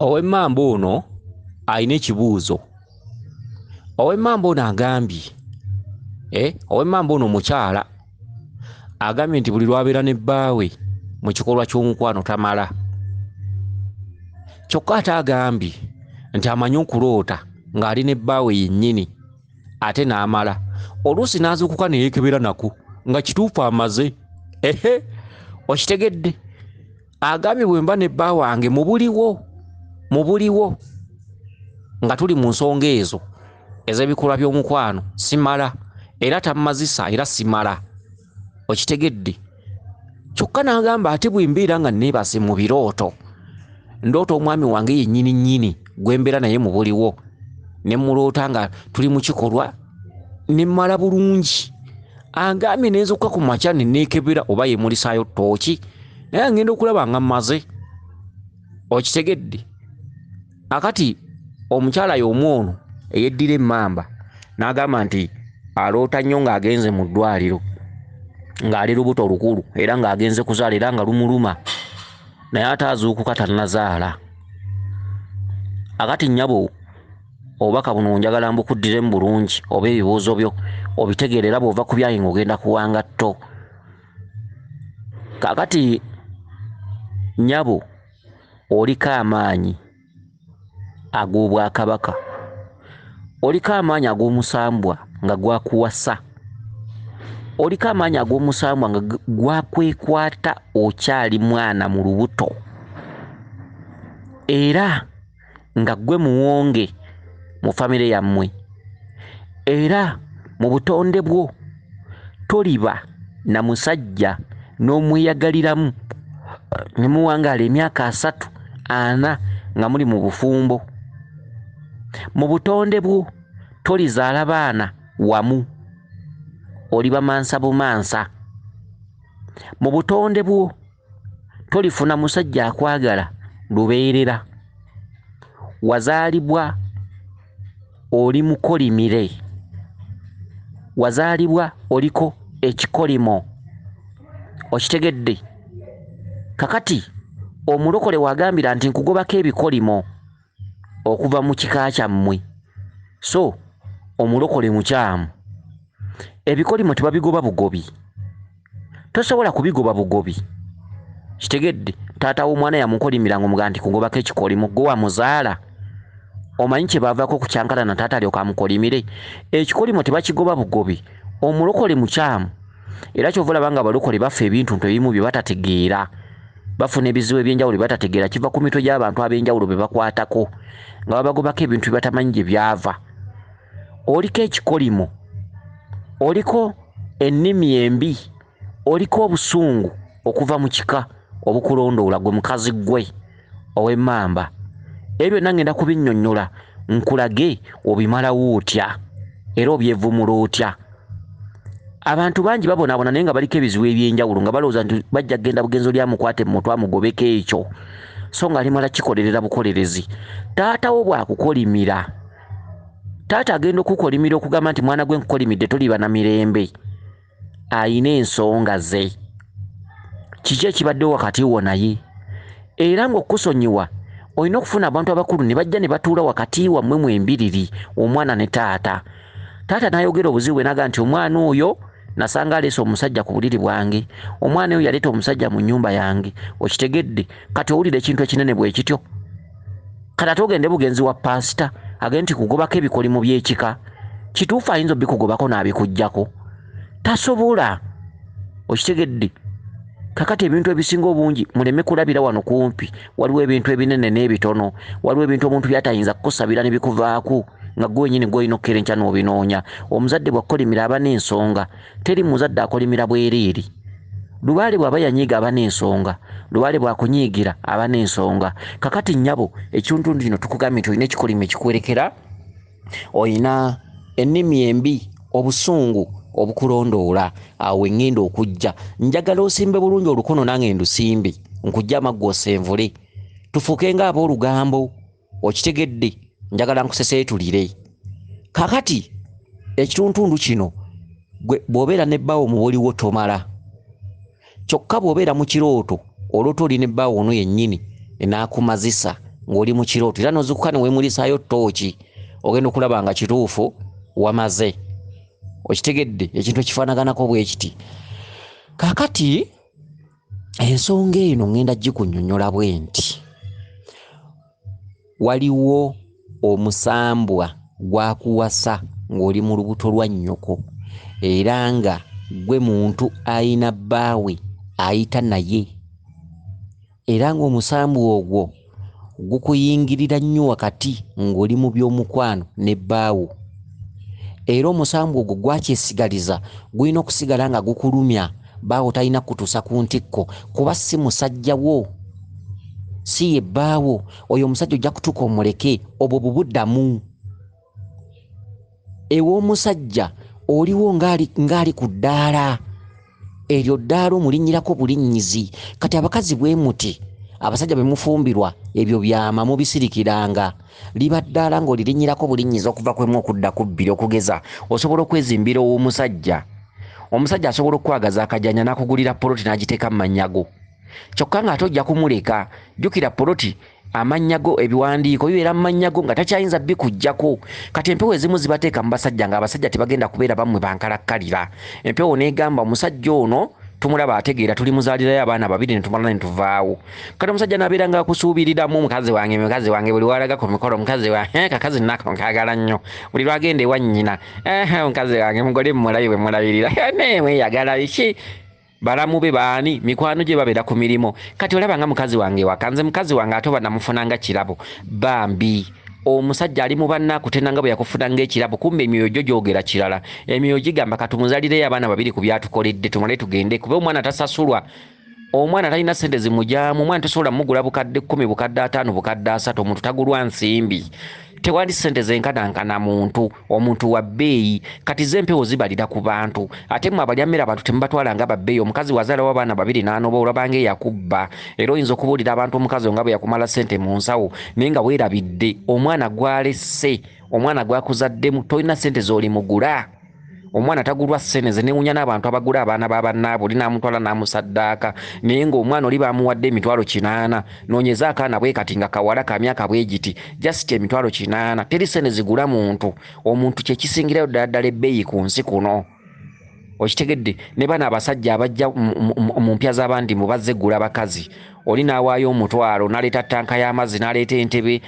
owemmamba ono alina ekibuuzo owemmamba ono agambye eh, owemmamba ono omukyala agambye nti buli lwabeera ne bbaawe mu kikolwa ky'omukwano tamala kyokka ate agambye nti amanyi okuloota ng'ali ne bbaawe yennyini ate n'amala oluusi n'azuukuka ne yeekebera nako nga kituufu amaze ehe okitegedde agambye bwe mba ne bba wange mu buliwo mu buliwo nga tuli mu nsonga ezo ez'ebikolwa by'omukwano simala era tammazisa era simala okitegedde kyokka n'agamba ate bwe mbeera nga neebase mu birooto ndoota omwami wange yennyini nnyini gwe mbeera naye mu buliwo ne muloota nga tuli mu kikolwa ne mmala bulungi angambye nenzokka ku makya ne neekebera oba yemulisaayo ttooki naye angenda okulaba nga mmaze okitegedde akati omukyala y'omu ono eyeddira emmamba n'agamba nti aloota nnyo ng'agenze mu ddwaliro ng'ali lubuto lukulu era ng'agenze kuzaala era nga lumuluma naye ate azuukuka tannazaala akati nnyabo obubaka buno njagala mbukuddiremu bulungi oba ebibuuzo byo obitegeera era bw'ova ku byayi ng'ogenda kuwangatto kakati nnyabo oliko amaanyi ag'obwakabaka oliko amaanyi ag'omusambwa nga gwakuwasa oliko amaanyi ag'omusambwa nga gwakwekwata okyali mwana mu lubuto era nga gwe muwonge mu famire yammwe era mu butonde bwo toliba na musajja n'omweyagaliramu ne muwangaala emyaka asatu ana nga muli mu bufumbo mu butonde bwo tolizaala baana wamu oliba mansa bumansa mu butonde bwo tolifuna musajja akwagala lubeerera wazaalibwa oli mukolimire wazaalibwa oliko ekikolimo okitegedde kakati omulokole wagambira nti nkugobako ebikolimo okuva mu kika kyammwe so omulokole mukyamu ebikolimo tebabigoba bugobi tosobola kubigoba bugobi kitegedde taata w'omwana yamukolimira nga omugaa nti kugobako ekikolimo gwe wamuzaala omanyi kyebaavaako okukyankalana taata alyoka amukolimire ekikolimo tebakigoba bugobi omulokole mukyamu era kyova olaba nga abalokole baffe ebintuntu ebimu bye batategeera bafuna ebizibu ebyenjawulo bye batategeera kiva ku mitwe gy'abantu ab'enjawulo be bakwatako nga babagobako ebintu bye batamanyi gye byava oliko ekikolimo oliko ennimi embi oliko obusungu okuva mu kika obukulondoola gwe mukazi ggwe ow'emmamba ebyo byonna ngenda kubinnyonnyola nkulage obimalawo otya era obyevumula otya abantu bangi babonaabona naye nga baliko ebizibu ebyenjawulo nga balowooza nti bajja kugenda bugenzo lyamukwate mu mutwe amugobeko ekyo so nga alimala kikolerera bukolerezi taatawo bwakukolimira taata agenda okukolimira okugamba nti mwana gwe nkukolimidde toliba na mirembe alina ensonga ze kiki ekibadde wakati wo naye era ng'okusonyiwa olina okufuna abantu abakulu ne bajja ne batuula wakati wammwe mu embiriri omwana ne taata taata n'ayogera obuzibu bwe naga nti omwana oyo nasanga aleese omusajja ku buliri bwange omwana oyo yaleeta omusajja mu nnyumba yange okitegedde kati owulira ekintu ekinene bwe kityo kati ate ogende bugenzi wa paasita agende nti kugobako ebikolimo by'ekika kituufu ayinza obikugobako n'abikugyako tasobola okitegedde kakati ebintu ebisinga obungi muleme kulabira wano kumpi waliwo ebintu ebinene n'ebitono waliwo ebintu omuntu byatayinza kukusabira ne bikuvaako nga gwe wenyini gwolina okukerenkya n'obinoonya omuzadde bwakkolimira aba n'ensonga Teri muzadde akolimira bwereere. Lubaale bw'aba yanyiiga aba n'ensonga. Lubaale bw'akunyiigira aba n'ensonga. Kakati nnyabo ekitundu kino tukugambye nti olina ekikolimo ekikuwerekera, olina ennimi embi, obusungu obukulondoola. Awo we ŋŋenda okujja. Njagala osimbe bulungi olukono nange ndusimbe, nkuggye amaggwa osenvule tufuuke ng'aboolugambo. okitegedde njagala nkuseseetulire kakati ekituntundu kino gwe bw'obeera ne bbaawo mubuliwo tomala kyokka bw'obeera mu kirooto olwota oli ne bbaawo ono yennyini enaakumazisa ng'oli mu kirooto era nozukuka ne weemulisaayo ttooki ogenda okulaba nga kituufu wamaze okitegedde ekintu ekifaanaganako bwe kiti kakati ensonga eno ŋŋenda gikunyonyola bwe nti waliwo omusambwa gwakuwasa ng'oli mu lubuto lwa nnyoko era nga gwe muntu ayina bbaawe ayita naye era ng'omusambwa ogwo gukuyingirira nnyo wakati ng'oli mu by'omukwano ne bbaawo era omusambwa ogwo gwakyesigaliza gulina okusigala nga gukulumya baawo talina kutuusa ku ntikko kuba si musajja wo si ye bbaawo oyo omusajja ojja kutuuka omuleke obwo bubuddamu ew'omusajja oliwo ng'ali ku ddaala eryo ddaala omulinnyirako bulinnyizi kati abakazi bwe muti abasajja bwe mufumbirwa ebyo byama mubisirikiranga liba ddaala ng'olirinnyirako bulinnyizi okuva kwemu okudda ku bbiri okugeza osobola okwezimbira ow'omusajja omusajja asobola okukwagaza akajanja n'akugulira poloti n'agiteeka mu manyago kyokka ng'ate ojja kumuleka jjukira poloti amannya go ebiwandiiko bibeera mu mannya go nga takyayinza bikuggyako kati empewo ezimu zibateeka mu basajja ng'abasajja tebagenda kubeera bammwe bankalakkalira empewo n'egamba omusajja ono tumulaba ategeera tuli muzaalirayo abaana babiri ne tumala ne tuvaawo kati omusajja nabeera nga akusuubiriramu mukazi wange mukazi wange buli walaga ku mikolo mukazi wa eh, kakazi nako nkagala nnyo buli lwagenda ewa nnyina eh, mukazi wange mugole mumulabi bwe mulabirira eh, naye mweyagala biki Balamu be baani? Mikwano gye babeera ku mirimu. Kati olaba nga mukazi wange ewaka, nze mukazi wange ate oba namufuna nga kirabo. Bambi. Omusajja ali mu banne akutenda nga bwe yakufuna ng'ekirabo kumbe emyoyo gyo gyogera kirala. Emyoyo gigamba ka tumuzalireyo abaana babiri ku by'atukoledde tumale tugende kuba omwana tasasulwa. Omwana talina ssente zimugyamu, omwana tosobola mugula bukadde kkumi, bukadde ataano, bukadde asatu, omuntu tagulwa nsimbi. Tewali ssente zenkanankana muntu. omuntu wa bbeeyi kati ze empewo zibalira ku bantu ate mwe abalya mmere abantu temubatwala nga babbeeyi omukazi wazaalawo abaana babiri n'anoba olaba nga eyakubba era oyinza okubuulira abantu omukazi o nga bwe yakumala ssente mu nsawo naye nga weerabidde omwana gwalesse omwana gwakuzaddemu tolina ssente z'olimugula omwana tagulwa ssene ze newunya n'abantu abagula abaana ba bannaabwe oli n'amutwala n'amusaddaaka naye ng'omwana oli baamuwadde emitwalo kinaana Nonyeza akaana bwe kati nga kawala ka myaka bwe giti just emitwalo kinaana teri sene zigula muntu omuntu kye kisingirayo ddala ddala ebbeeyi ku nsi kuno okitegedde ne bano abasajja abajja mu mpya z'abandi mu bazze gula bakazi oli n'awaayo omutwalo n'aleeta ttanka y'amazzi n'aleeta entebe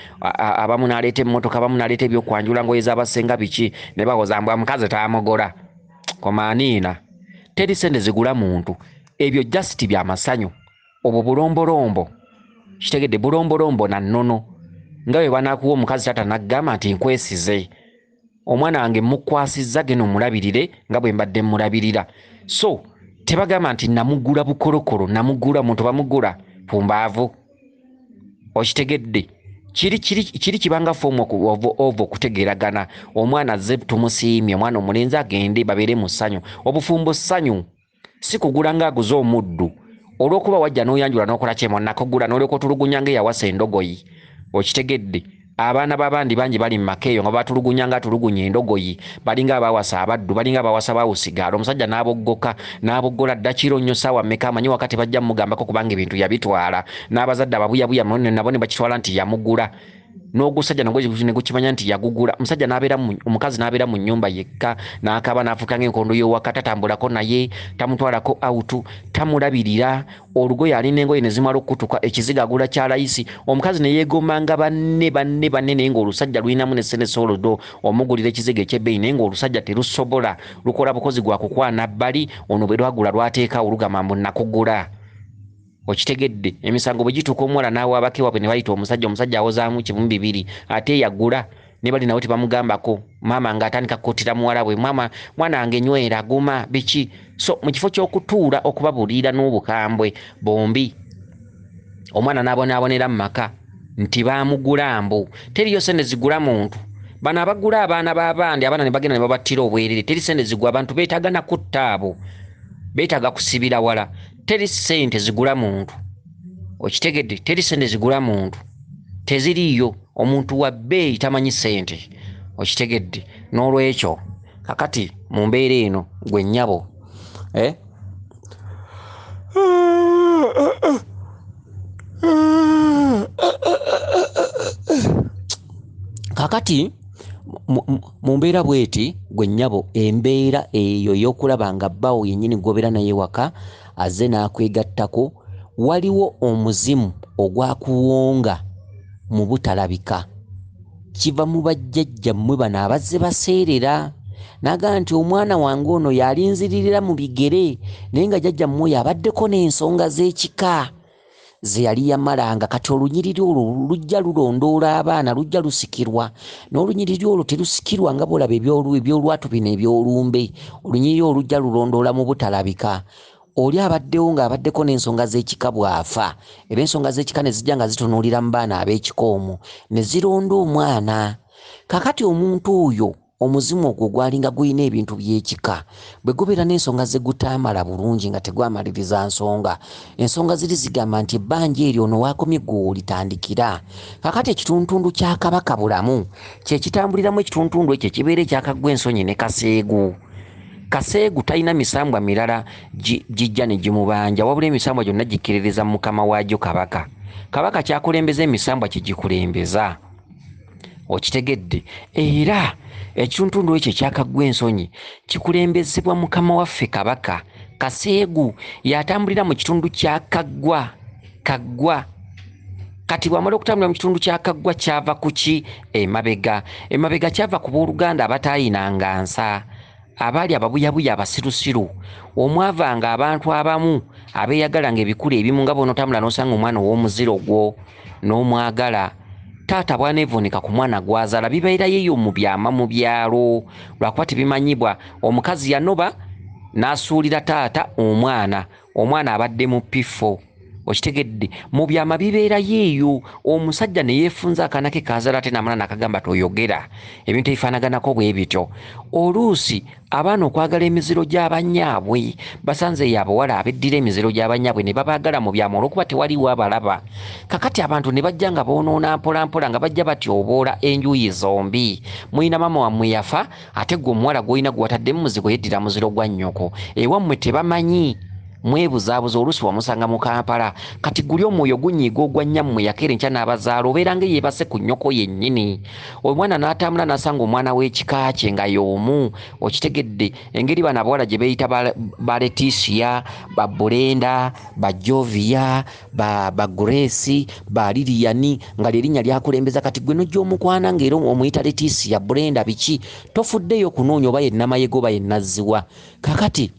abamu n'aleeta emmotoka abamu n'aleeta ebyokwanjula ngoye z'abasenga biki ne bawoza mbwa mukazi taamugola komaaniina teri sente zigula muntu ebyo just bya masanyu obwo bulombolombo kitegedde bulombolombo na nnono nga bwe banaakuwa omukazi taata n'agamba nti nkwesize omwana wange mukwasizza geno mulabirire nga bwe mbadde mulabirira so tebagamba nti namugula bukolokolo namugula omuntu bamugula ku mbaavu okitegedde kiri kiri kiri kibanga foomu okuova okutegeeragana omwana azze tumusiimye omwana omulenzi agende babeere mu ssanyu obufumbo ssanyu si kugula ng'aguze omuddu olw'okuba wajja n'oyanjula n'okola kyemu nakugula n'olyoka otulugunya ng'eyawasa endogoyi okitegedde abaana b'abandi bangi bali mu maka eyo nga batulugunya nga atulugunya endogoyi balinga abaawasa abaddu balinga abaawasa bawusigaala omusajja n'aboggoka n'aboggola dda kiro nnyo ssaawa mmeka amanyi waka tebajja mugambako kubanga ebintu yabitwala n'abazadde ababuyabuya nabo ne bakitwala nti yamugula n'ogusajja nagwo ne gukimanya nti yagugula omusajja n'abeera omukazi n'abeera mu nnyumba yekka n'akaaba n'afuuka ng'enkondo y'owaka tatambulako naye tamutwalako awutu tamulabirira olugoye alina engoye ne zimala okukutuka ekizigo agula kya layisi omukazi ne yeegombanga banne banne banne naye ng'olusajja lulinamu ne ssente soolodo omugulira ekizigo eky'ebbeeyi naye ng'olusajja terusobola lukola bukozi gwa kukwana bbali ono bwe lwagula lwateekaawo lugamba mbu nakugula okitegedde emisango bwe gituuka omuwala n'awaabako ewabwe ne bayita omusajja omusajja awozaamu kimu bibiri ate eyagula ne bali nawe tebamugambako maama ng'atandika kukuttira muwala bwe maama mwana wange nywera guma biki so mu kifo ky'okutuula okubabuliira n'obukambwe bombi omwana n'abonaabonera mu maka nti baamugula mbu teriyo sente zigula muntu bano abagula abaana b'abandi abaana ne bagenda ne babattira obwerere teri sente zigwa abantu beetaaga nakutta abo beetaaga kusibira wala teri sente zigula muntu okitegedde teri sente zigula muntu teziriiyo omuntu wa bbeeyi tamanyi sente okitegedde n'olwekyo kakati mu mbeera eno gwe nnyabo eh? kakati Mu mbeera bw'eti, ggwe nnyabo, embeera eyo ey'okulaba nga bbaawo yennyini gw'obeera naye ewaka azze n'akwegattako, waliwo omuzimu ogwakuwonga mu butalabika. Kiva mu bajjajjammwe bano abazze baseerera n'agamba nti omwana wange ono y'alinziririra mu bigere naye nga jjajjammwe oyo abaddeko n'ensonga z'ekika. ze yali yamala nga kati olunyiriri olwo lujja lulondoola abaana lujja lusikirwa n'olunyiriri olwo terusikirwa nga bwolaba ebyolwatu bino ebyolumbe olunyiriri olwo lujja lulondoola mu butalabika oli abaddewo ng'abaddeko n'ensonga z'ekika bw'afa era ensonga z'ekika ne zijja nga zitunuulira mu baana ab'ekika omwo ne zironda omwana kakati omuntu oyo Omuzimu ogwo gwalinga gulina ebintu by'ekika bwe gubeera n'ensonga ze gutaamala bulungi nga tegwamaliriza nsonga. Ensonga ziri zigamba nti ebbanja eryo ono w'akomye ggwe w'olitandikira. Kaakati ekituntundu kya Kabaka Bulamu kye kitambuliramu ekituntundu ekyo ekibeera ekya Kaggwensonyi ne Kaseegu. Kaseegu talina misambwa mirala gijja ne gimubanja wabula emisambwa gyonna gikkiririza mu mukama waagyo Kabaka. Kabaka ky'akulembeza emisambwa kye gikulembeza. okitegedde era ekituntundu ekyo ekyakaggwa ensonyi kikulembezebwa mukama waffe kabaka kaseegu yatambulira mu kitundu kya kaggwa kaggwa kati bwamala okutambulira mu kitundu kya kaggwa kyava ku ki emabega emabega kyava ku booluganda abataayinanga nsa abaali ababuyabuya abasirusiru omwavanga abantu abamu abeeyagala nga ebikulu ebimu nga bonotambula n'osanga omwana ow'omuziro gwo n'omwagala taata bwanevunika ku mwana gwazala bibeera yeyo mu byama mu byalo lwakuba tebimanyibwa omukazi yanoba n'asuulira taata omwana omwana abadde mu pifo okitegedde mu byama bibeera yeeyo omusajja ne yeefunza akaana ke kaazala ate namala nakagamba toyogera ebintu ebifaanaganako bwe bityo oluusi Abaana okwagala emiziro gya bannyaabwe, basanzeeyo abawala abeddira emiziro gya bannyaabwe ne babaagala mu byama olw'okuba tewaliiwo abalaba. Kakati abantu ne bajja nga boonoona mpolampola nga bajja batyoboola enjuuyi zombi. Mulina maama wammwe yafa, ate ggwe omuwala gw'olina gwe watadde mu muzigo yeddira muziro gwa nnyoko. Ewammwe tebamanyi? Mwebuzaabuza oluusi wamusanga mu Kampala. Kati guli omwoyo gunyiiga ogwa nnyammwe eyakeera enkya n'abazaala obeeranga eyeebase ku nnyoko yennyini. omwana n'atambula n'asanga omwana w'ekika kye nga y'omu okitegedde engeri bano abawala gye beeyita ba letisia ba bulenda ba jovia ba grace ba liliyani nga lyerinnya lyakulembeza kati gwe nojja omukwana ngaera omuyita letisia bulenda biki tofuddeyo okunoonya oba yennamayega oba yennazziwa kakati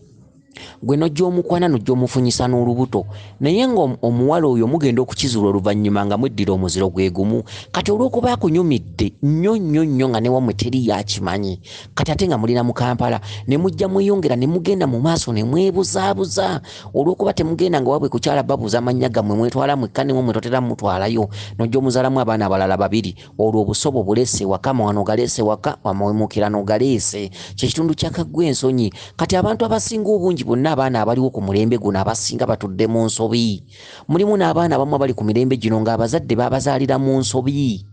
gwe nojja omukwana nojja omufunyisa n'olubuto naye nga omuwala oyo mugenda okukizula oluvannyuma nga mweddira omuziro gwe gumu kati olw'okuba akunyumidde nnyo nnyo nnyo nga newamwe teri yakimanyi kati ate nga mulina mu kampala ne mujja mweyongera ne mugenda mu maaso ne mwebuzaabuza olw'okuba temugenda nga wabwe kukyala babuuza amannya gammwe mwetwala mwekka newamwe totera mutwalayo nojja omuzalamu abaana abalala babiri olwo obusobo bulese waka mawano galese waka wamawemukirano galese kyekitundu kyakaggwa ensonyi kati abantu abasinga obungi bonna abaana abaliwo ku mulembe guno abasinga batudde mu nsobi mulimu n'abaana abamu abali ku mirembe gino ng'abazadde babazaalira mu nsobi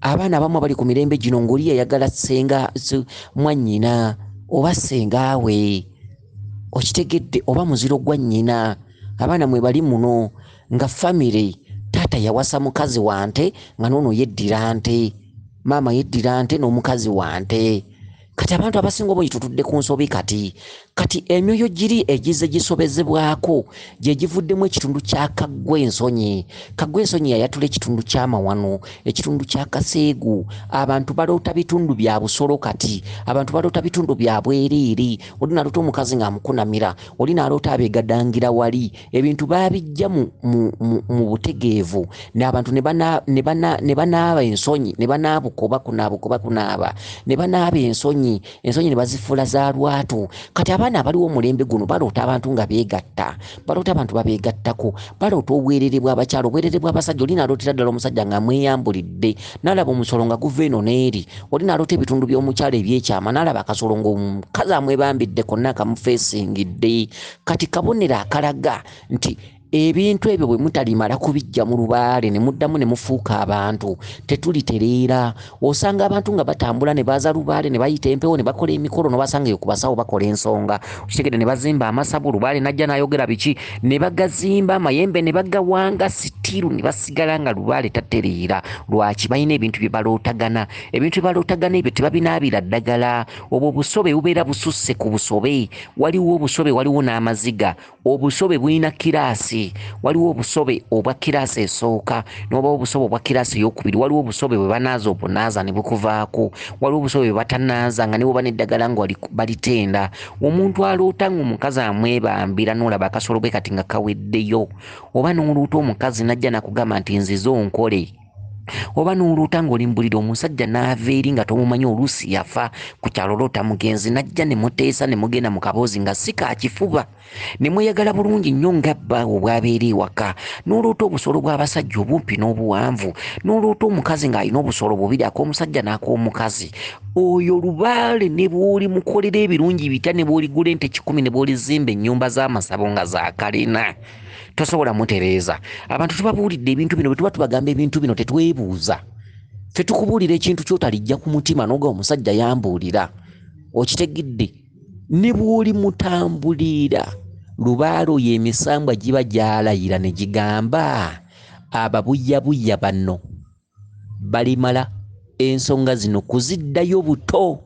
abaana abamu abali ku mirembe gino ng'oli yayagala senga mwannyina oba sengaawe okitegedde oba muziro gwa nnyina abaana mwe bali muno nga famire taata yawasa mukazi wante nga noono yeddira nte maama yeddira nte n'omukazi wante kati abantu abasinga obungi tutudde ku nsobi kati kati emyoyo giri egize gisobezebwako gye givuddemu ekitundu kya kaggwa ensonyi kaggwa ensonyi yayatula ekitundu ky'amawano ekitundu kya kaseegu abantu baloota bitundu bya busolo kati abantu baloota bitundu bya bwereere oli naloota omukazi ng'amukunamira oli naloota abeegadangira wali ebintu baabijja mu, mu, mu, mu butegeevu n'abantu ne banaaba ensonyi ne banaabuka oba kunaabuka oba kunaaba ne banaaba ensonyi ensonyi ne bazifuula za lwatu kati abaana abaliwo omulembe guno baloota abantu nga beegatta baloota abantu babeegattako baloota obwerere bw'abakyala obwerere bw'abasajja oli nalootera ddala omusajja ng'amweyambulidde n'alaba omusolo nga guva eno n'eri oli naloota ebitundu by'omukyala ebyekyama n'alaba akasolo ng'omukazi amwebambidde konna akamufeesingidde kati kabonero akalaga nti ebintu ebyo bwe mutalimala kubiggya mu lubaale ne muddamu ne mufuuka abantu tetulitereera osanga abantu nga batambula ne baza lubaale ne bayita empewo ne bakola emikolo no basanga yo kubasawo bakola ensonga kitegede ne bazimba amasabu lubaale najja nayogera biki ne bagazimba amayembe ne bagawanga sitiru ne basigala nga lubaale tatereera lwaki balina ebintu bye balootagana ebintu bye balootagana ebyo tebabinaabira ddagala obwo obusobe bubeera bususse ku busobe waliwo obusobe waliwo n'amaziga obusobe bulina kiraasi waliwo obusobe obwa kiraasi esooka nobawo obusobe obwa kiraasi eyokubiri waliwo obusobe bwe banaaza obunaaza ne bukuvaako waliwo obusobe bwe batanaaza nga niwoba neddagala nga balitenda omuntu aloota nga omukazi amwebambira nolaba akasolo bwe kati nga kaweddeyo oba noluuta omukazi najja nakugamba nti nzize onkole oba n'oloota ng'oli mbulira omusajja n'ava eri nga tomumanyi oluusi yafa ku kyalo loota mugenzi n'ajja ne muteesa ne mugenda mu kaboozi nga si kakifuba ne mweyagala bulungi nnyo nga bbaawe obwabeera ewaka n'oloota obusolo bw'abasajja obumpi n'obuwanvu n'oloota omukazi ng'alina obusolo bubiri ak'omusajja n'ak'omukazi oyo lubaale ne bw'olimukolera ebirungi bitya ne bw'oligula ente kikumi ne bw'olizimba ennyumba z'amasabo nga za kalina tosobola mutereeza abantu tubabuulidde ebintu bino bwetuba tubagamba ebintu bino tetwebuuza fe tukubuulira ekintu kyotalijja ku mutima noga omusajja yambuulira okitegidde ne bwoli mutambuliira lubaalo yo emisambwa giba gyalayira ne gigamba ababuyabuya bano balimala ensonga zino kuziddayo buto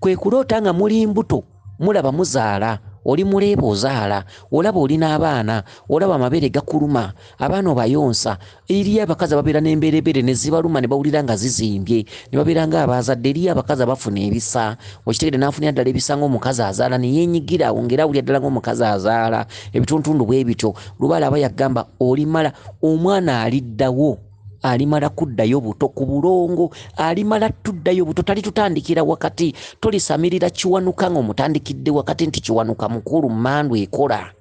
kwe kuloota nga muli mbuto mulaba muzaala oli muleeba ozaala olaba oli n'abaana olaba amabeere gakuluma abaana obayonsa eriyo abakazi ababeera n'embeerebeere ne zibaluma ne bawulira nga zizimbye ne babeera nga abaazadde eriyo abakazi abafuna ebisa okitegede n'afunira ddala ebisa ng'omukazi azaala ne yeenyigira awo ng'era awulira ddala ng'omukazi azaala ebituntundu bwe bityo lubaala aba yagamba olimala omwana aliddawo alimala kuddayo buto ku bulongo alimala tuddayo buto tali tutandikira wakati tolisamirira kiwanuka nga omutandikidde wakati nti kiwanuka mukulu mandu ekola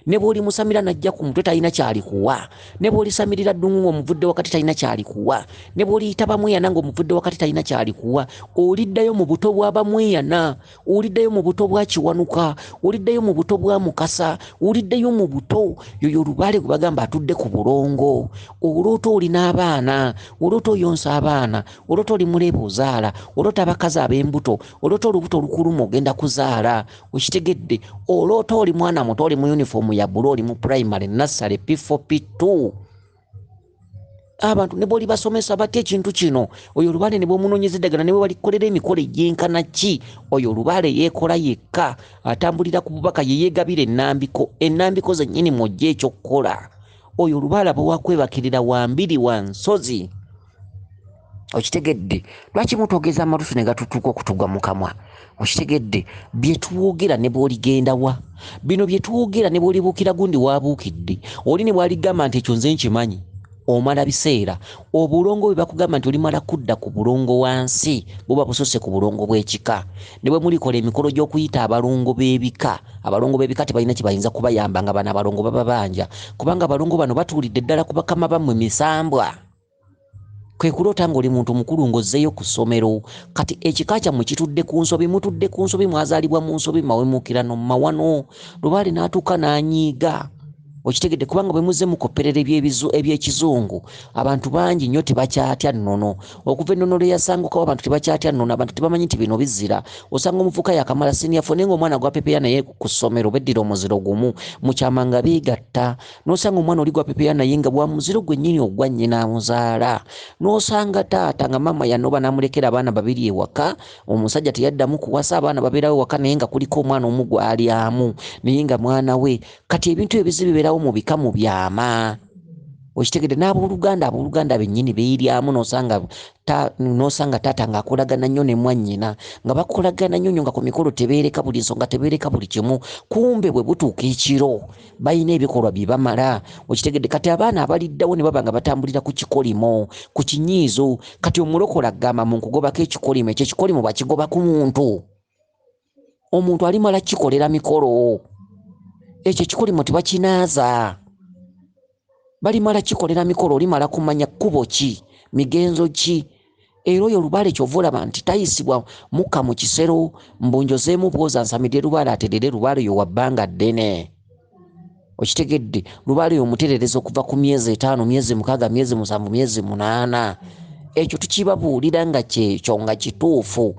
ne bw'olimusamira n'ajja ku mutwe talina kyalikuwa ne bw'olisamirira ddungu ng'omuvudde wakati talina kyalikuwa ne bw'oliyita bamweyana ng'omuvudde wakati talina kyalikuwa oliddayo mu buto bwa bamweyana oliddayo mu buto bwa kiwanuka oliddayo mu buto bwa mukasa oliddayo mu buto yoyo lubaale gwe bagamba atudde ku bulongo oloota olina abaana oloota oyonsa abaana oloota oli muleeba ozaala oloota abakazi ab'embuto oloota olubuto olukuluma ogenda kuzaala okitegedde oloota oli mwana muto oli mu yunifoomu ya bulu oli mu primary nassale p4 p2 abantu ne bwoli basomesa batya ekintu kino oyo olubale ne bwomunoonyeza eddagala ne webalikolera emikolo egyenkana ki oyo olubale yeekola yekka atambulira ku bubaka yeyeegabira ennambiko ennambiko zennyini mwojja ekyokukola oyo olubaala bwewakwebakirira wambiri wa nsozi okitegedde lwaki mutwogeza amatusu ne gatutuuka okutugwa mu kamwa okitegedde bye twogera ne bwoligenda wa bino bye twogera ne bwolibuukira gundi waabuukidde oli ne bwaligamba nti ekyo nze nkimanyi omala biseera obulongo bwe bakugamba nti olimala kudda ku bulongo wansi buba busose ku bulongo bw'ekika ne bwe mulikola emikolo gy'okuyita abalongo b'ebika abalongo b'ebika tebalina kye bayinza kubayamba nga bano abalongo bababanja kubanga abalongo bano batuulidde ddala ku bakama bammwe misambwa kwe kuloota ng'oli muntu mukulu ng'ozzeeyo ku ssomero kati ekika kyammwe kitudde ku nsobi mutudde ku nsobi mwazaalibwa mu nsobi mawemukirano mu mawano lubaale n'atuuka n'anyiiga okitegedde kubanga bwe muzze mukopperera ebyekizungu abantu bangi nnyo tebakyatya nnono okuva ennono lwe yasangukawo abantu tebakyatya nnono abantu tebamanyi nti bino bizira osanga omuvuka yakamala siniya fo naye ngaomwana gwapepeya naye ku ssomero beddira omuziro gumu mukyama nga beegatta nosanga omwana oli gwapepera naye nga bwamuziro gwenyini ogwa nyina amuzaala nosanga taata nga maama yanoba namulekera abaana babiri ewaka omusajja teyaddamu kuwasa abaana baberawo ewaka naye nga kuliko omwana omu gwalyamu naye nga mwana we kati ebintu ebizi biberawo mu bika mu byama okitegede n'abooluganda abooluganda bennyini beeryamu nosanga nosanga taata ng'akolagana nnyo ne mwannyina nga bakolagana nnyo nnyo nga ku mikolo tebeereka buli nsonga tebeereka buli kimu kumbe bwe butuuka ekiro balina ebikolwa bye bamala okitegedde kati abaana abaliddawo ne baba nga batambulira ku kikolimo ku kinyiizo kati omulokola agamba mu nkugobako ekikolimo ekyo ekikolimo bakigoba ku muntu omuntu alimala kikolera mikolo ekyo ekikolimo tebakinaaza balimala kikolera mikolo olimala kumanya kkubo ki migenzo ki era oyo lubaale kyova olaba nti tayisibwa mukka mu kisero mbunjozeemu bwoza nsamidde lubaale aterere lubaale oyo wa bbanga ddene okitegedde lubaale oyo omuterereza okuva ku myezi etaano myezi mukaaga myezi musanvu myezi munaana ekyo tukibabuulira nga kyekyo nga kituufu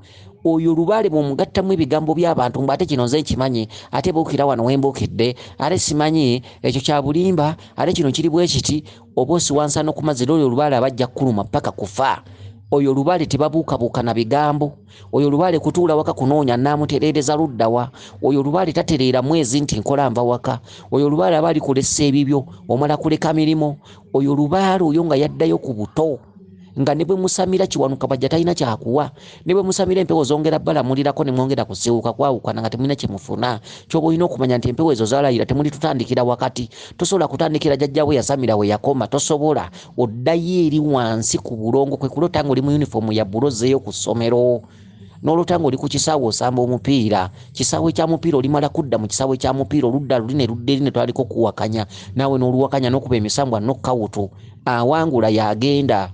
oyo lubaale bwomugattamu ebigambo by'abantu mbu ate kino nze nkimanyi ate buukira wano wembuukidde ate simanyi ekyo kya bulimba ate kino kiri bwe kiti oba osiwansa n'okumazira oyo lubaale abajja kukuluma ppaka kufa oyo lubaale tebabuukabuuka na bigambo oyo lubaale kutuula waka kunoonya naamutereereza luddawa oyo lubaale tatereera mwezi nti nkola nva waka oyo lubaale aba alikulesa ebibyo omala kuleka mirimu Oyo lubaale oyo nga yaddayo ku buto nga ne bwe musamira kiwanuka bajja talina kyakuwa ne bwe musamira empewo zongera balamulirako ne mwongera kusiwuka kwawukana nga temulina kye mufuna kyoba olina okumanya nti empewo ezo zalayira temuli tutandikira wakati tosobola kutandikira jajjawe yasamira we yakoma tosobola oddayo eri wansi ku bulongo kwe kulota nga oli mu yunifoomu ya bula ozzeeyo ku ssomero n'olota ng'oli ku kisaawe osamba omupiira kisaawe kya mupiira olimala kudda mu kisaawe kya mupiira oludda luli ne ludda eri ne twaliko kuwakanya naawe n'oluwakanya n'okuba emisambwa nokkawutu awangula y'agenda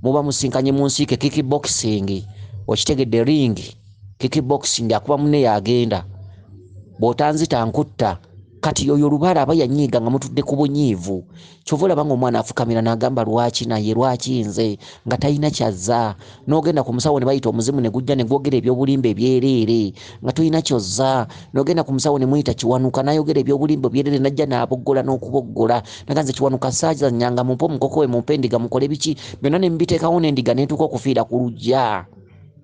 muba musinkanye mu nsiike kiki boxing okitegedde ring kiki boxing akuba mune y'agenda bw'otanzita nkutta kati yoyo olubala aba yanyiiga nga mutudde ku bunyiivu kyova olaba nga omwana afukamira nagamba lwaki naye lwaki nze nga talina kyazza nogenda ku musawo nebayita omuzimu negujja negwogera ebyobulimba ebyereere nga tolina kyozza nogenda ku musawo nemuyita kiwanuka nayogera ebyobulimba ebyereere najja naboggola n'okuboggola naga nze kiwanuka saazanyanga mumpe omukoko we mumpe endiga mukole biki byonna nemubiteekawo n'endiga netuuka okufiira ku lujja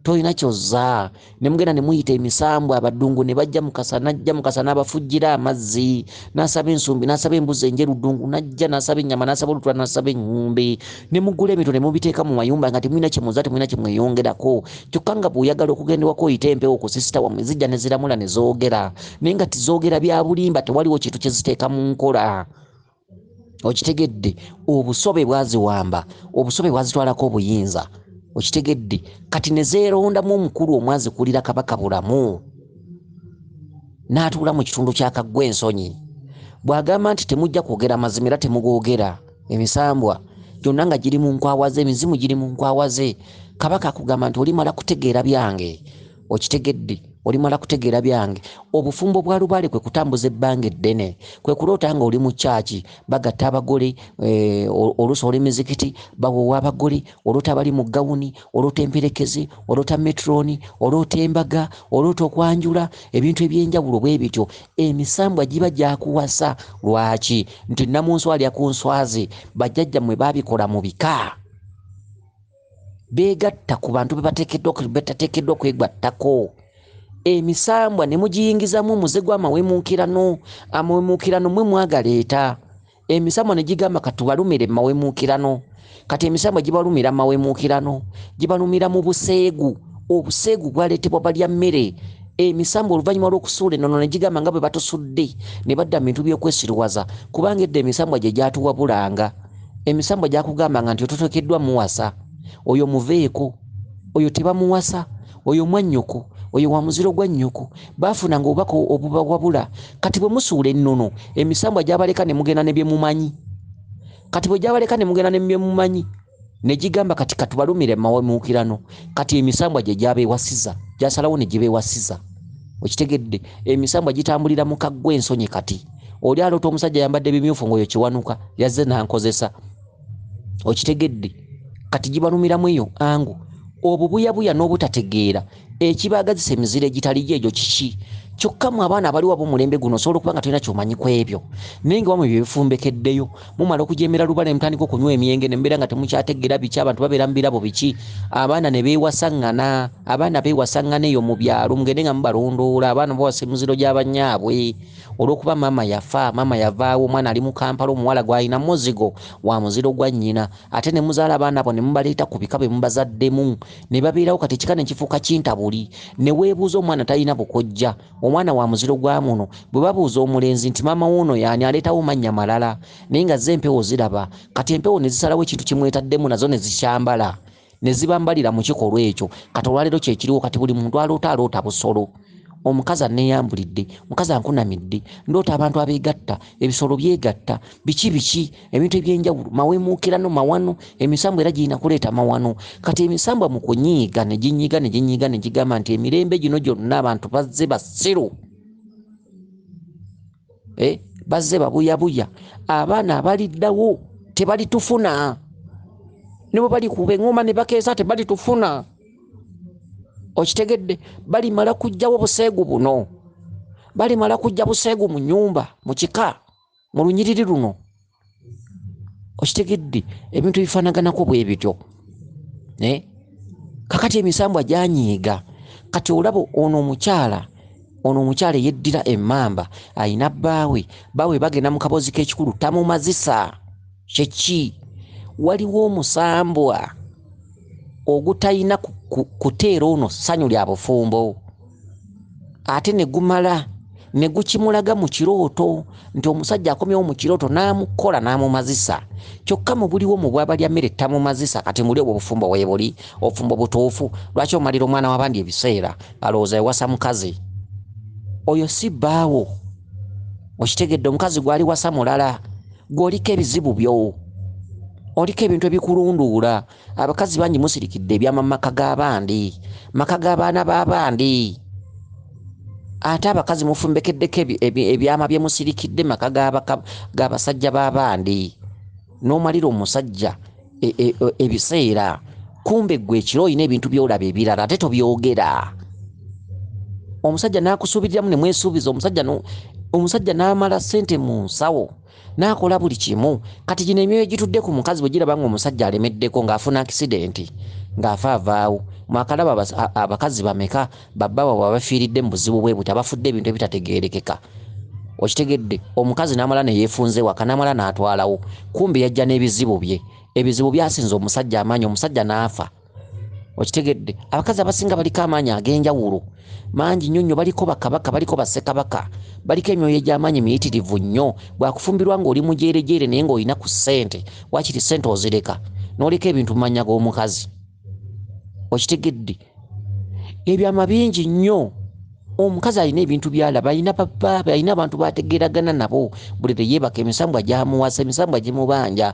tolina kyozza ne mugenda ne muyita emisambwa abaddungu ne bajja mukasa n'ajja mukasa n'abafujjira amazzi n'asaba ensumbi n'asaba embuzi enjeru ddungu n'ajja n'asaba ennyama n'asaba olutula n'asaba eŋŋumbi ne mugula ebintu ne mubiteeka mu mayumba nga temulina kye muzza temulina kye mweyongerako kyokka nga bw'oyagala okugenda ewaka oyita empewo ku sisita wamwe zijja ne ziramula ne zoogera naye nga tizoogera bya bulimba tewaliwo kintu kye ziteeka mu nkola okitegedde obusobe bwaziwamba obusobe bwazitwalako obuyinza okitegedde kati nezeerondamu omukulu omwazikulira kabaka bulamu n'atuula mu kitundu kyakaggwa ensonyi bw'agamba nti temujja kwogera mazima era temugoogera emisambwa gyonna nga giri mu nkwawa ze emizimu giri mu nkwawa ze kabaka akugamba nti olimala kutegeera byange okitegedde olimala kutegeera byange obufumbo bwa lubaale kwe kutambuza ebbanga eddene kwe kuloota nga oli mu kyaki bagatta abagole eh, oluusi oli mizikiti bawowa abagole oloota abali mu gawuni oloota emperekeze oloota metroni oloota embaga oloota okwanjula ebintu ebyenjawulo bwe bityo emisambwa giba gyakuwasa lwaki nti namunswalya ku nswazi bajjajja mwe babikola mu bika beegatta ku bantu bebatateekeddwa okwegattako emisambwa ne mugiyingizamu omuze gw'amawemuukirano amawemuukirano mwe mwagaleeta emisambwa ne gigamba katubalumire mu mawemuukirano kati emisambwa gibalumira mu mawemuukirano gibalumira mu buseegu obuseegu bwaleetebwa balya mmere emisambwa oluvannyuma lw'okusuula enono ne gigamba nga bwe batusudde ne badda mu bintu by'okwesiruwaza kubanga edda emisambwa gye gyatuwabulanga emisambwa gyakugamba nga nti ototokeddwa muwasa oyo muveeko oyo tebamuwasa oyo mwannyoko oyo wa muziro gwa nnyoko baafunanga obubaka obubawabula kati bwe musuula ennono emisambwa gyabaleka ne mugenda ne bye mumanyi kati bwe gyabaleka ne mugenda ne bye mumanyi ne gigamba kati katubalumire mawemuukirano kati emisambwa gye gyabeewasiza gyasalawo ne gibeewasiza okitegedde emisambwa gitambulira mu kaggwa ensonyi kati oli aloota omusajja yambadde bimyufu ngaoyo kiwanuka yazze nankozesa okitegedde kati gibalumiramu eyo angu obubuyabuya n'obutategeera ekibaagazisa emizira egitali gyo egyo kiki kyokka mu abaana abali waba omulembe guno osobola okuba nga tolina kyomanyi ku ebyo naye nga wamwe bye bifumbekeddeyo mumala okujeemera lubala ne mutandika okunywa emyenge ne mubeera nga temukyategeera biki abantu babeera mu birabo biki abaana ne beewasaŋŋana abaana beewasaŋŋana eyo mu byalo mugende nga mubalondoola abaana bawasa emiziro gy'abanyaabwe Olwokuba maama yafa, maama yavaawo, omwana ali mu Kampala, omuwala gw'alina muzigo wa muziro gwa nnyina, ate ne muzaala abaana bo ne mubaleeta ku bika be mubazaddemu ne babeerawo kati ekika ne kifuuka kintabuli. Ne weebuuza omwana talina bukojja, omwana wa muziro gwa muno. Bwe babuuza omulenzi nti maama w'ono y'ani aleetawo mannya malala naye nga zo empewo ziraba kati empewo ne zisalawo ekintu kye mwetaddemu nazo ne zikyambala. ne zibambalira mu kikolwa ekyo kati olwaleero kyekiriwo kati buli muntu aloota aloota busolo omukazi aneyambulidde mukazi ankunamidde ndoota abantu abeegatta ebisolo byegatta biki biki ebintu ebyenjawulo mawemuukirano mawano emisambwa era girina kuleeta mawano kati emisambwa mu kunyiiga ne ginyiga ne ginyiga ne gigamba nti emirembe gino gyonna abantu bazze basiru eh, bazze babuyabuya abaana abaliddawo tebalitufuna ne bwe bali kuba eŋŋoma ne bakeesa tebalitufuna okitegedde balimala kujjawo buseegu buno balimala kujja buseegu mu nyumba mu kika mu lunyiriri luno okitegedde ebintu ebifanaganako bwe bityo naye kakati emisambwa gyanyiiga kati olaba ono omukyala ono omukyala eyeddira emamba alina bbaawe baawe bagenda mu kaboozi k'ekikulu tamumazisa kyeki waliwo omusambwa ogutalina kuteera ono ssanyu lya bufumbo ate ne gumala ne gukimulaga mu kirooto nti omusajja akomyewo mu kirooto n'amukola n'amumazisa kyokka mu buliwo mu bwabalya mmere tamumazisa kati muli obwo obufumbo weebuli obufumbo butuufu lwaki omalira omwana w'abandi ebiseera alowooza ewasa mukazi oyo si bbaawo okitegedde omukazi gwali wasa mulala gweoliko ebizibu byo oliko ebintu ebikulunduula abakazi bangi musirikidde ebyama maka g'abandi maka g'abaana b'abandi ate abakazi mufumbekeddeko ebyama bye musirikidde maka g'abasajja b'abandi n'omalira omusajja e, e, e, ebiseera kumbe ggwe ekiro olina ebintu by'olaba ebirala ate tobyogera omusajja n'akusuubiriramu ne mwesuubiza omusajja n'amala ssente mu nsawo n'akola buli kimu kati gino emyoyo gitudde ku mukazi bwe giraba ng'omusajja alemeddeko ng'afuna akisidenti ng'afa avaawo mwakalaba abakazi bameka babba wabwe abafiiridde mu buzibu bwe buti abafudde ebintu ebitategeerekeka okitegedde omukazi n'amala ne yeefunze waka n'amala n'atwalawo kumbi yajja n'ebizibu bye ebizibu byasinza omusajja amaanyi omusajja n'afa okitegedde abakazi abasinga baliko amaanyi ag'enjawulo mangi nnyo nnyo baliko bakabaka baliko basekabaka baliko emyoyo egy'amaanyi miyitirivu nnyo bwakufumbirwa ng'oli mujeerejeere naye ng'olina ku ssente wakiri ssente ozireka n'oleka ebintu mu mannya g'omukazi okitegedde ebyama bingi nnyo omukazi alina ebintu byalaba alina babaabe alina abantu bategeragana nabo buli leyebaka emisambwa gyamuwasa emisambwa gimubanja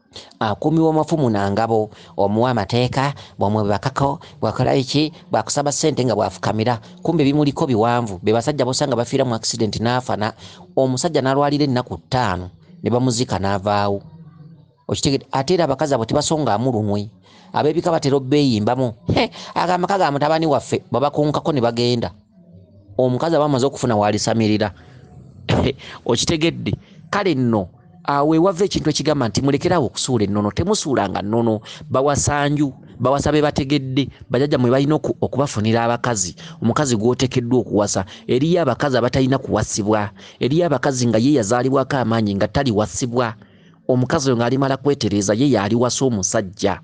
akuumibwa mafumu na ngabo omuwa amateeka bwamwebakako bwakola biki bwakusaba sente nga bwafukamira kumbe bimuliko biwanvu be basajja bosanga bafiira mu accident n'afana omusajja n'alwalira ennaku ttaano ne bamuzika n'avaawo okitegede ate era abakazi abo tebasongaamu lunwe ab'ebika batera obbeeyimbamu he agamaka ga mutabani waffe babakunkako ne bagenda omukazi aba amaze okufuna waalisamirira okitegedde kale nno awo ewava ekintu ekigamba nti mulekerawo okusuula ennono temusuulanga nnono bawasanju bawasa be bategedde bajajja mwe balina okubafunira abakazi omukazi gw'otekeddwa okuwasa eriyo abakazi abatalina kuwasibwa eriyo abakazi nga ye yazaalibwako amaanyi nga taliwasibwa omukazi oyo ng'alimala kwetereeza ye yaaliwasa omusajja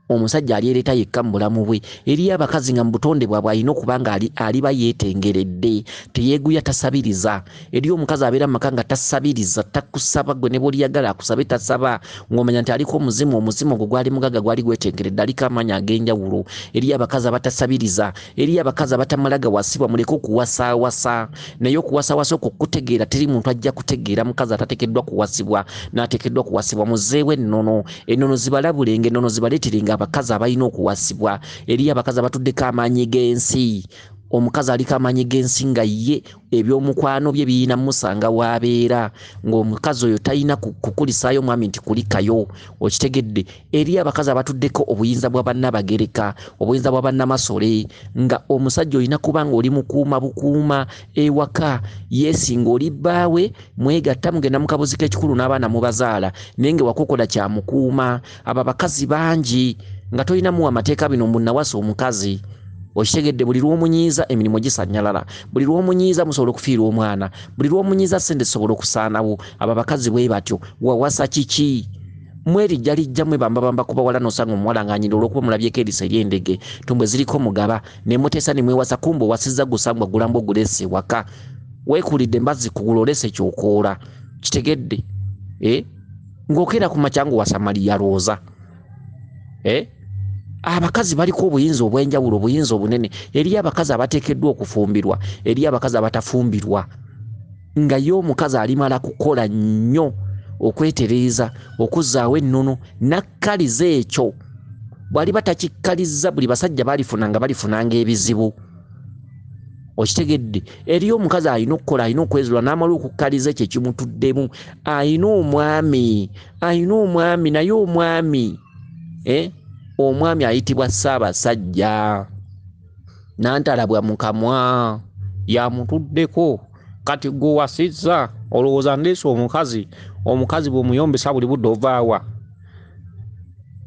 omusajja alyereta yekka mu bulamu bwe eriyo abakazi nga mu butonde bwabwe alina okuba nga aliba yeetengeredde teyeeguya tasabiriza eriyo omukazi abeera mu maka nga tasabiriza takusaba gwe ne bwoliyagala akusabe tasaba ng'omanya nti aliko omuzimu omuzimu ogwo gwali mugaga gwali gwetengeredde aliko amaanyi ag'enjawulo eriyo abakazi abatasabiriza eriyo abakazi abatamala gawasibwa muleke okuwasaawasa naye okuwasaawasa okwo kutegeera teri muntu ajja kutegeera mukazi atatekeddwa kuwasibwa n'atekeddwa kuwasibwa muzeewo ennono Enono zibalabule ng'enono zibaleetere ng'abakazi abalina okuwasibwa. Eriyo abakazi abatuddeko amaanyi g'ensi. Omukazi aliko amaanyi g'ensi nga ye ebyomukwano bye birina musanga w'abeera ng'omukazi oyo talina kukulisaayo omwami nti kulikayo okitegedde. Eriyo abakazi abatuddeko obuyinza bwa bannabagereka, obuyinza bwa bannamasole nga omusajja olina kuba ng'oli mukuuma bukuuma ewaka. Yes ng'oli bbaawe. mwegatta mugenda mukabuzika ekikulu n'abaana mubazaala naye nga wakokola kyamukuuma abo abakazi bangi nga tolina muwa amateeka bino mbu nawasa omukazi okitegedde buli lwomunyiiza emirimu gisanyalala buli lwomunyiiza musobola okufiirwa omwana buli lwomunyiiza sente zisobola okusaanawo abo abakazi bwe batyo wawasa kiki mwerijja lijja mwe bambabamba kubawala nosanga omuwala ng'anyira olwokuba mulabyeko eriso ery'endege tumbwe ziriko mugaba ne muteesa ne mwewasa kumba owasizza gusangwa gulamba ogulese waka wekulidde mbazzi kugula olese kyokoola kitegedde eh? ng'okeera ku makyangu wa samaliya lwoza eh? abakazi baliko obuyinza obw'enjawulo obuyinza obunene eriyo abakazi abateekeddwa okufumbirwa eriyo abakazi abatafumbirwa nga ye omukazi alimala kukola nnyo okwetereeza okuzzaawo ennono nakkaliza ekyo bw'aliba takikkalizza buli basajja balifuna nga balifunanga ebizibu okitegedde eriyo omukazi alina okukola alina okwezula n'amala okukkaliza ekyo ekimutuddemu alina omwami alina omwami naye omwami eh? omwami ayitibwa ssaabasajja nantalabwa mu kamwa yamutuddeko kati gwe wasizza olowooza ndeesa omukazi omukazi bw'omuyombesa buli budde ovaawa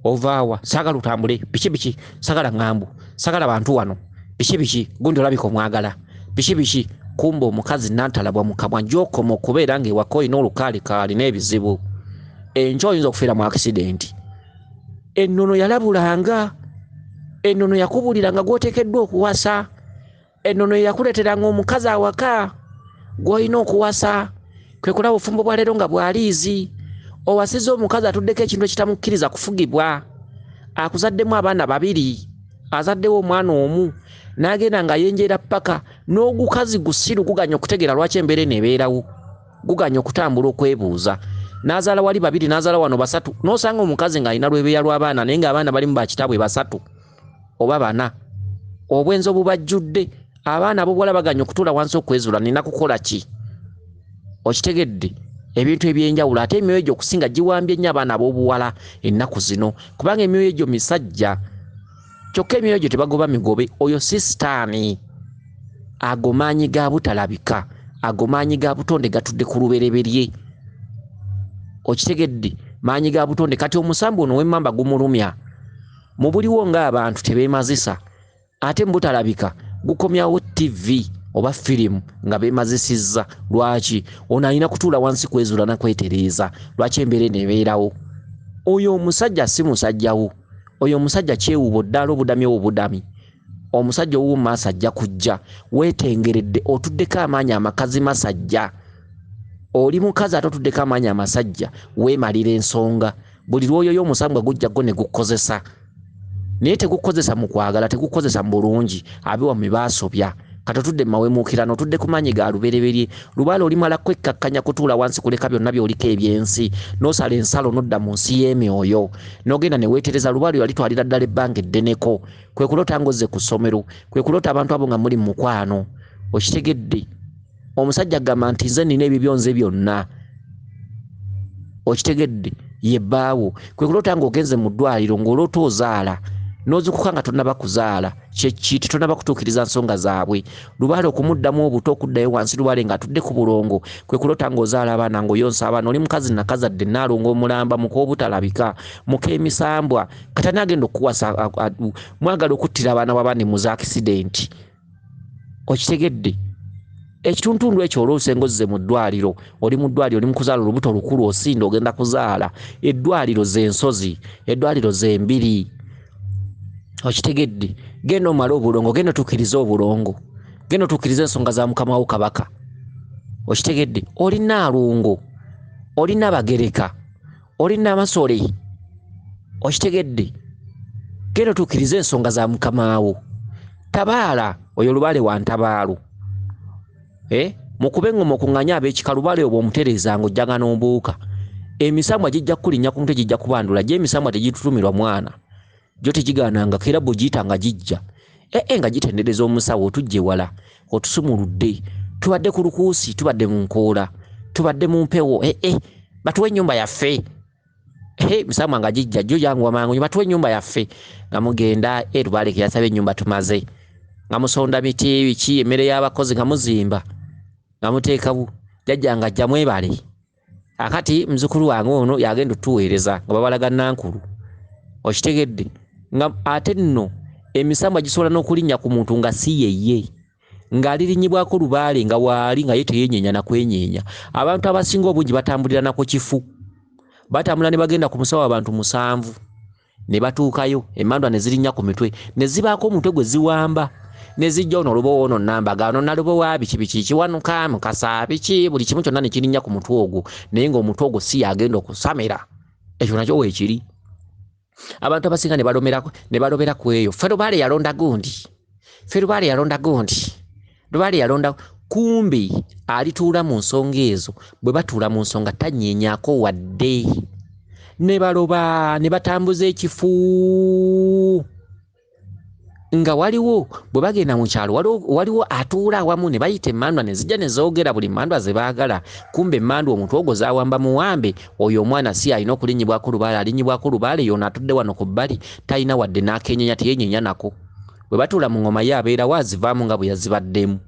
ovaawa sagala otambule biki biki sagala ŋŋambu sagala bantu wano biki biki gundi olabika omwagala biki biki kumba omukazi nantalabwa mukamwa gyokoma okubeera nga ewaka olina olukaali kaalina ebizibu enkyo oyinza okufiira mu akisidenti ennono yalabulanga ennono yakubuliranga gwotekeddwa okuwasa Ennono eyakuleeteranga omukazi awaka gw'olina okuwasa kwe kulaba obufumbo bwa leero nga bwaliizi owasiza omukazi atuddeko ekintu ekitamukkiriza kufugibwa akuzaddemu abaana babiri azaddewo omwana omu n'agenda nga yenjeera ppaka n'ogukazi gusiru guganya okutegeera lwaki embeera eno ebeerawo guganya okutambula okwebuuza n'azaala wali babiri n'azaala wano basatu n'osanga omukazi ng'alina lwebeeya lw'abaana naye ng'abaana balimu bakitaabwe basatu oba bana obwenzi obubajjudde abaana abobuwala baganye okutuula wansi okwezula nina kukola ki okitegedde ebintu ebyenjawulo ate emyoyo egyo okusinga giwambye nnyo abaana abobuwala ennaku zino kubanga emyoyo egyo misajja kyokka emyoyo egyo tebagoba migobe oyo si sitaani ago maanyi ga butalabika ago maanyi ga butonde gatudde ku lubereberye okitegedde maanyi ga butonde kati omusambu ono wemmamba gumulumya mu buliwo ng'abantu tebeemazisa ate mu butalabika gukomyawo ttivi oba firimu nga beemazisizza lwaki ono alina kutuula wansi kwezuula na kwetereeza lwaki embeera eno ebeerawo oyo omusajja si musajjawo oyo omusajja kyewubo ddala obudami owo budami omusajja owuwo mu maaso ajja kujja weetengeredde otuddeko amaanyi amakazi masajja oli mukazi ate otuddeko amaanyi amasajja weemalira ensonga buli lwoyoyo omusambwa gujja go ne gukozesa naye tegukozesa mu kwagala tegukozesa mu bulungi abiwa mu baasobya kati otudde mu mawemuukirano otudde ku maanyi ga lubereberye lubaala olimala kwekkakkanya kutuula wansi kuleka byonna byoliko ebyensi n'osala ensalo n'odda mu nsi y'emyoyo n'ogenda ne weetereza lubaala oyo alitwalira ddala ebbanga eddeneko kwe kuloota ng'ozze ku ssomero kwe kuloota abantu abo nga muli mu mukwano okitegedde omusajja agamba nti nze nina ebibyo nze byonna okitegedde ye bbaawo kwe kuloota ng'ogenze mu ddwaliro ng'oloota ozaala n'ozukuka nga tonaba kuzaala kyeki tetonaba kutuukiriza nsonga zaabwe lubaale okumuddamu obuto okuddayo wansi lubaale ng'atudde ku bulongo kwe kuloota ng'ozaala abaana ng'oyonsa abaana oli mukazi nakazadde naalonga omulamba muk'obutalabika muk'emisambwa katani agenda okukuwasa mwagala okuttira abaana b'abaana emuza akisidenti okitegedde ekituntundu ekyo oluusi engozize mu ddwaliro oli mu ddwaliro oli mukuzaala olubuto lukulu osinda ogenda kuzaala eddwaliro zensozi eddwaliro zembiri okitegedde genda omale obulongo genda otukirize obulongo genda otukirize ensonga za mukamawo kabaka okitegedde olina alungo olina bagereka oli namasole okitegedde genda otuukiriza ensonga za mukamaawo tabaala oyo lubaale wa ntabaalo eh? mukube engoma okunganye abekika lubaale obwo omutereezanga ojjanga n'ombuuka emisambwa gijja kukulinnya ku mutwe gijja kubandula gye emisambwa tegitutumirwa mwana gyo tegigaanangako era bw'ogiyita nga gijja ee eh, eh, nga gitendereza omusawo otujje wala otusumuludde tubadde ku lukuusi tubadde mu nkoola tubadde mu mpewo ee eh, batuwa ennyumba yaffe he musama nga gijja jjo janguwa mangu nyo batuwa ennyumba yaffe nga mugenda e lubaleke yasaba ennyumba tumaze nga musonda miti ebiki emmere y'abakozi nga muzimba nga muteekawo jajja nga jja mwebale akati muzukulu wange ono yagenda otuweereza nga babalaga nankulu okitegedde nga ate nno emisambwa gisobola n'okulinnya ku muntu nga si yeye ng'alirinyibwako lubaale nga waali nga ye teyenyeenya nakwenyeenya abantu abasinga obungi batambulira naku kifu batambula ne bagenda ku musawo abantu musanvu ne batuukayo emandwa ne zirinnya ku mitwe ne zibaako omutwe gwe ziwamba ne zijja ono olubowa ono namba ga ono nalubowa biki biki kiwanuka mukasa biki buli kimu kyonna ne kirinnya ku mutwe ogwo naye ng'omutwe ogwo si yagenda okusamira ekyo nakyo weekiri abantu abasinga ne balobera ku eyo ferubaale yalonda gundi ffe lubaale yalonda gundi lubaale yalonda kumbi alituula mu nsonga ezo bwe batuula mu nsonga tanyeenyako wadde ne baloba ne batambuza ekifu nga waliwo bwe bagenda mu kyalo waliwo atuula awamu ne bayita emandwa ne zijja ne zoogera buli mandwa ze baagala kumba emandwa omuntu ogwo zawamba muwambe oyo omwana si alina okulinyibwako lubaale alinyibwako lubaale yoona atudde wano ku bbali talina wadde n'akenyenya teyenyenya nako bwe batuula mu ngoma ye abeerawo azivaamu nga bwe yazibaddemu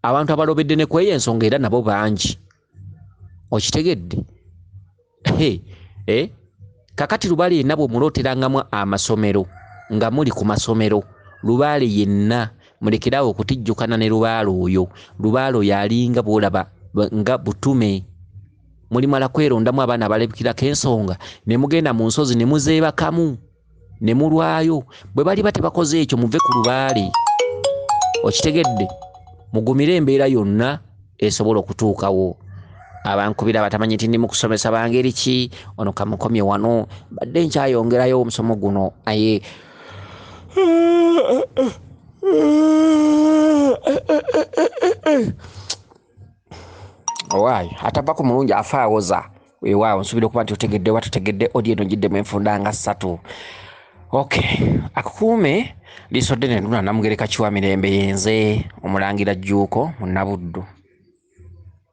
abantu abalobedde ne kweyo ensonga era nabo bangi okitegedde eh? kakati lubaale yenna bwemulooterangamu amasomero nga muli ku masomero lubaale yenna mulekeraawo okutijjukana ne lubaale oyo lubaale oyo alinga bwolaba nga butume mulimala kwerondamu abaana abalabikirako ensonga ne mugenda mu nsozi ne muzeebakamu ne mulwayo bwe baliba tebakoze ekyo muve ku lubaale okitegedde mugumire embeera yonna esobola okutuukawo abankubira abatamanyi nti ndi mu kusomesa bangeri ki ono kamukomye wano badde nkyayongerayo omusomo guno aye owaayi atava ku mulungi afa awoza weewaawo nsuubira okuba nti otegedde oba totegedde odi eno ngiddemu enfunda nga ssatu ok akukuume liiso ddene luna namugereka kiwa mirembe yenze omulangira jjuuko mu nabuddu